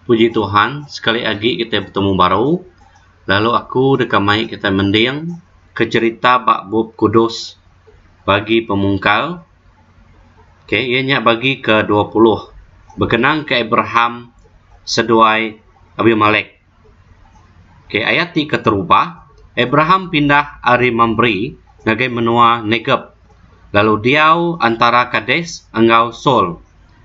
Puji Tuhan sekali agi kita betemu baru lalu aku deka mai kita mending ke cherita ba bup kudus bagi pemungkal okay iya nya bagi ke dua puluh bekenang ke Abraham seduai Abimelek. Ok ayat ti keterubah Abraham pindah ari Mambre ngagai menua Negeb lalu diau antara Kades enggau Saul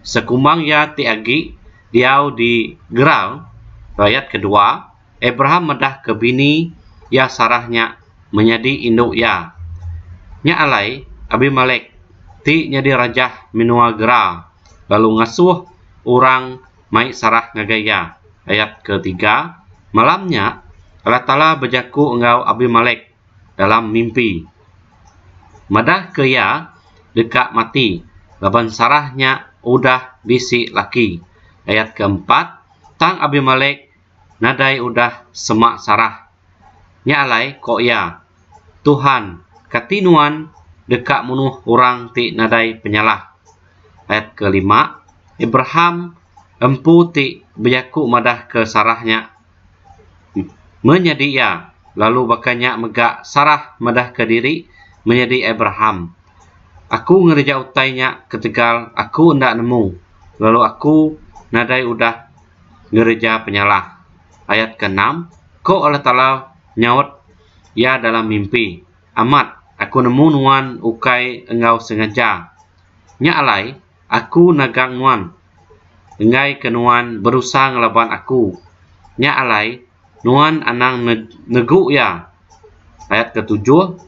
sekumbang iya ti agi diau di Gerar. Ayat kedua Abraham medah ke bini iya Sarah nya menyadi indu iya. Nya alai Abimelek ti nyadi rajah menua Gerar lalu ngasuh orang mai sarah ngagai iya. Ayat ke tiga, Malam nya, Allah Taala bejaku enggau Abimelek dalam mimpi. Madah ke iya deka mati laban sarah nya udah bisi laki. Ayat ke empat, Tang Abimelek nadai udah sema sarah. Nya alai, ko iya, Tuhan, kati Nuan deka munuh orang ti nadai penyalah? Ayat ke lima, Abraham, empu ti bejaku madah ke Sarah nya, menyadi iya, lalu baka nya mega Sarah madah ke diri menyadi Abraham, Aku ngereja utai nya ketegal aku enda nemu, lalu aku nadai udah ngereja penyalah. Ayat ke enam, Ko Allah Taala nyaut iya dalam mimpi, Amat, Aku nemu nuan ukai enggau sengaja. Nya alai Aku nagang nuan enggai ke nuan berusa ngelaban Aku. Nya alai nuan anang negu iya. Ayat ke tujuh,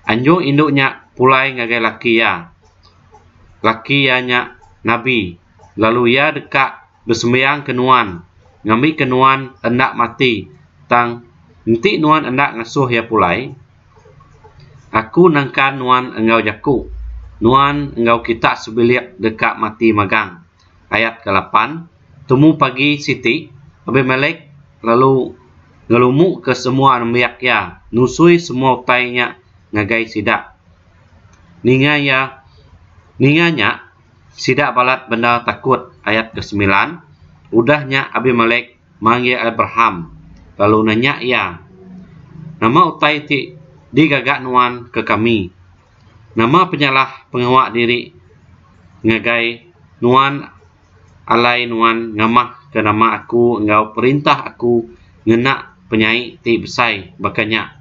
Anjung indu nya pulai ngagai laki iya. Laki iya nya nabi, lalu iya deka. besembiang ke nuan ngambi ke nuan enda mati tang enti nuan enda ngesuh iya pulai aku nengkan nuan enggau jaku nuan enggau kita sebilik deka mati magang ayat ke lapan temu pagi siti abimelek lalu ngelumu ke semua nembiak iya nusui semua utai nya ngagai sida ninga iya ninga nya Sida balat bendar takut ayat ke semilan udah nya Abimelek manggil Abraham lalu nanya iya nama utai ti di gaga nuan ke kami nama penyalah pengawa diri ngagai nuan alai nuan ngamah ke nama aku enggau perintah aku ngena penyai ti besai baka nya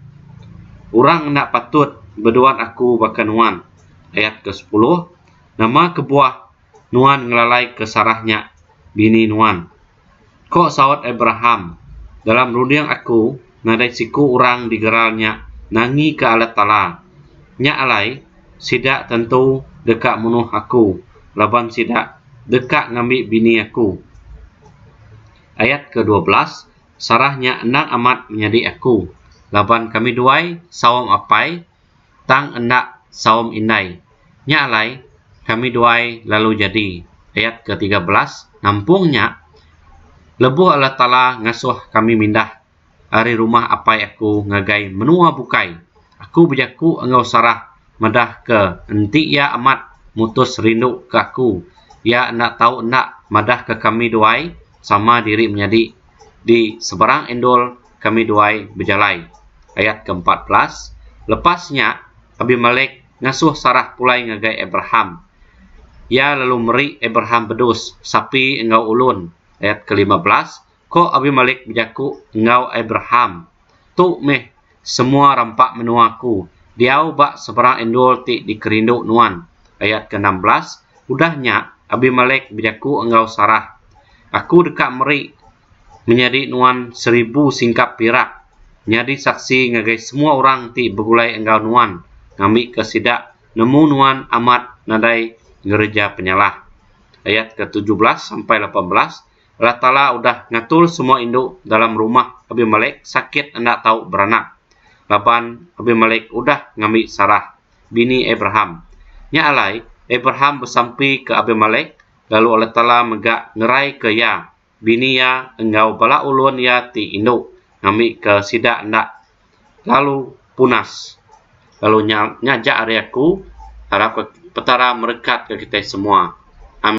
orang enda patut beduan aku baka nuan ayat ke sepuluh Nama kebuah nuan ngelalaika Sarah nya bini nuan? Ko saut Abraham, Dalam runding aku, nadai siku orang di geral nya nangika Allah Taala. Nya alai, sida tentu deka munuh aku laban sida deka ngambi bini aku. Ayat kedua belas, Sarah nya endang amat menyadi aku, laban kami duai saum apai. tang enda saum indai. Nya alai, kami duai lalu jadi, ayat ke tiga belas, nampung nya, lebuh Allah Taala ngasuh kami mindah ari rumah apai aku ngagai menua bukai, aku bejaku enggau Sarah madah ke enti iya amat mutus rindu ke aku, iya enda tau enda madah ke kami duai sama diri menyadi. di seberang endur kami duai bejalai ayat ke empat belas lepas nya abimelek ngasuh sarah pulai ngagai abraham iya lalu meri abraham bedus sapi enggau ulun ayat ke lima belas ko abimelek bejaku enggau abraham Tu meh semua rampa menua aku diau ba seberang endur ti dikerindu nuan. Ayat ke enam belas, Udah nya, Abimelek bejaku enggau Sarah, Aku deka meri menyadi nuan seribu singkap pirak nyadi saksi ngagai semua orang ti begulai enggau nuan ngambika sida nemu nuan amat nadai ngereja penyalah. Ayat ke tujuh belas sampai lapan belas. Allah Taala udah ngatur semua indu dalam rumah Abimelek sakit enda tau beranak laban Abimelek udah ngambi Sarah bini Abraham. Nya alai Abraham besampi ke Abimelek lalu Allah Taala mega ngerai ke iya bini iya enggau bala ulun iya ti indu ngambi ke sida enda lalu punas lalu nya nya aja ari aku harap Petara merekat ke kitai semua. Amin.